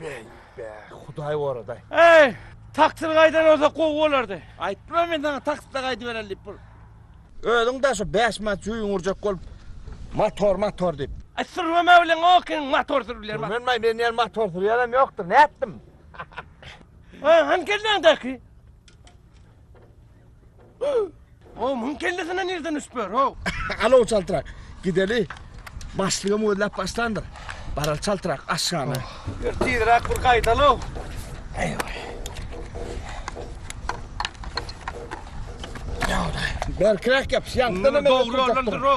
Bäý, bäý, Hudaý goradaý. Eý, taksyr gaýdan bolsa gowy bolardy. Aýtdym-a men saňa takside gaýdybereli diýip bir. Özüň de şu bäş manat jüýüňi urjak bolup, motor, motor diýip. Aý, sürmeme bilen okyň, motor sürüp bilerim. Sürmenmaý, men ýene motor sürýänem ýokdur, nätdim? Aý, hany kelläňdäki? O muň kellesine nirden üst ber o? Alo çaltrak. Gideli. Başlyga mözläp başlandyr. Baral çaltrak aşgana. Bir tizrak bir gaýdalo. Eýwa. Berkräk ýapyş, ýaňkdan hem Dogry ýoldan dur o.